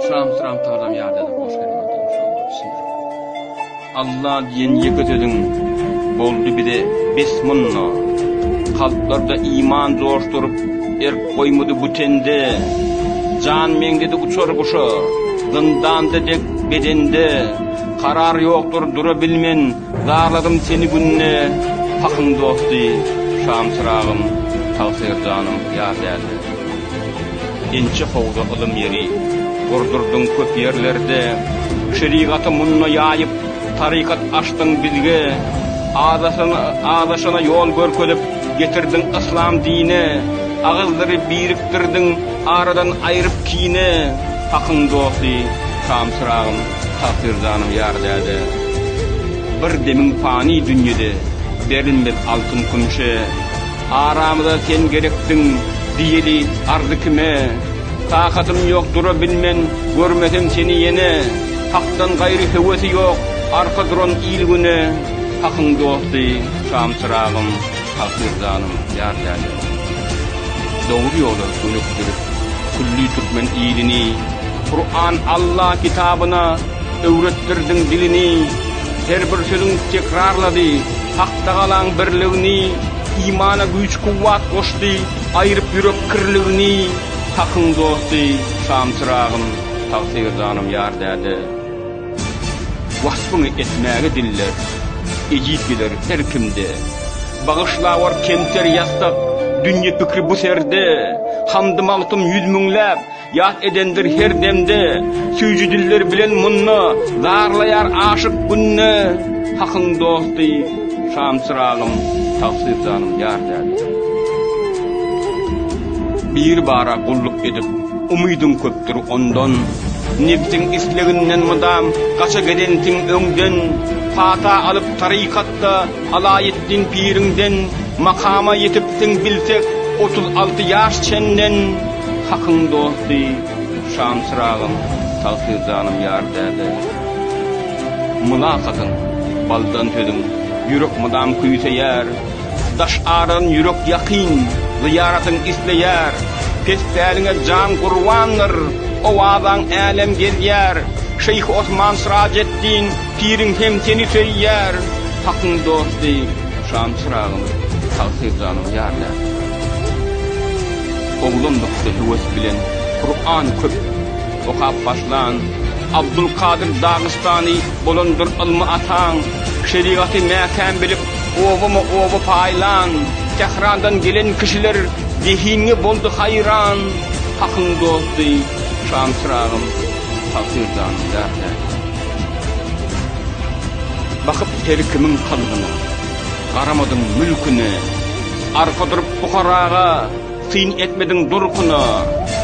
Şam şam talam ýada hoş gelmedi. Allah diýen ýeke sözüň boldy bize bes munna. Kalplarda iman joşduryp, erk goýmady bu tende. Jan meňdedi uçar guşa, zyndanda dek bedende. Karar ýokdur dura bilmen, Zarladym seni günde Pahyň dosty, şamçyragym, tagsyr janym ýar däldi. Inçe howza ylym ýeri gurdurdyň köp ýerlerde, Şerigaty munda ýaýyp, tarykat açdyň bizge, Azaşana ýol görkezip, getirdiň yslam dine, Agyzlary birikdirdiň, aradan aýryp kine, Pahyň dosty, şamçyragym, Tahyr janym ýar däde, Bir demiň pany dünýede, Berilmez altyn-kümşe. Aramyza sen gerekdiň, Diýeli arzy kime? Takatym ýok, dura bilmen, Görmesem seni ýene. Hakdan gaýry höwesi ýok, Arka duran il-güne. Hakyň dosty, şam-çyragym. Hakyr janym, ýar ýaly. Dogry ýola gönükdirip, külli türkmen ilini. Kuran Alla kitabyna öwretdirdiň dilini, Her bir sözüň tekrarlady Haktagalaň birligini, Imana güýç-kuwwat goşdy, aýryp ýürek kirligini. Hakyň dosty, şam-çyragym, Tagsyr janym, ýar däde. Waspyňy etmäge diller ejiz geler her kimde Bagyşlawar kemter ýassak dünýe pikri bu serde Hamdy Magtym ýüz müňläp ýat edendir her demde Süýji diller bilen munda zarlaýar aşyk günde Hakyň dosty şam çyragym tagsyr janym ýar däde Biri bara gulluk edip Umydym köpdür ondan, nebsiň isleginden mydam gaça gelensiň öňden, pata alyp tarykatda alaý etdiň piriňden, makama ýetipsiň bilsek otuz alty ýaş çenden, hakyň dosty, şam çyragym, tagsyr janym ýar däde. Mylakatyň, baldan sözüň, ýürek mydam küýseýär. Daş aran ýürek ýakyn, zyýaratyň isleýär, Pes päliňe jan gurbandyr, owazaň älem gezýär, Şeýh Osman Syrajeddin piriň hem seni söýýär, Hakyň dosty, şam çyragym, tagsyr janyň ýarlär. Oglandykda höwes bilen Kurany köp okap başlan, Abdulkadyr Dagystany bolandyr ylmy ataň, Şerigaty mäkäm bilip, Obama oba paýlan, Tährandan gelen kişiler zehinňe boldy haýran, Hakyň dosty, şam çyragym, tagsyr-janym ýar täze. Bakyp her kimiň kalbyna, garamadyň mülküne, arka durup pukaraga. Syn etmediň durkuna,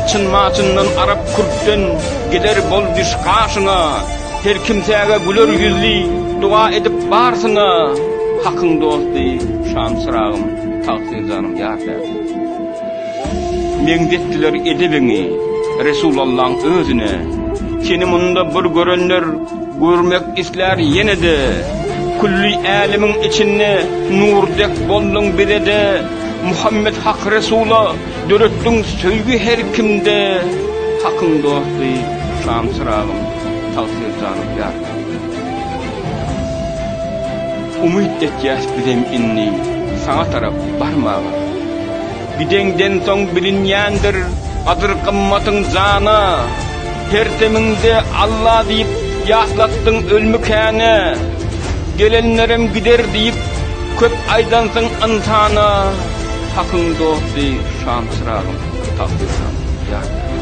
çyn-maçyndan arap-kürtden gider bol düş gaşyna, Her kimsäge güler ýüzli doga edip barsyna, Hakyň dosty, şam-çyragym, tagsyr janym ýar täsin. Meňzetdiler edebiňi Resulallaň özüne, Seni munda bir görenler görmek islär ýene-de, Külli älemiň içinde nur dek bolduň bize-de, Muhammet Hak Resula döretdiň söýgi her kimde Hakyň dosty şam çyragym tagsyr janym ýar Umyt etýäs bizem indi saňa tarap barmaga Gideňden soň bilinýändir gadyr gymmatyň jana Her demiňde Alla diýip ýatlatdyň ölmükäne Gelenlerem gider diýip Köp aýdansyň ynsana hakyň dosty şamçyragym tapyrsam ýar ýaly.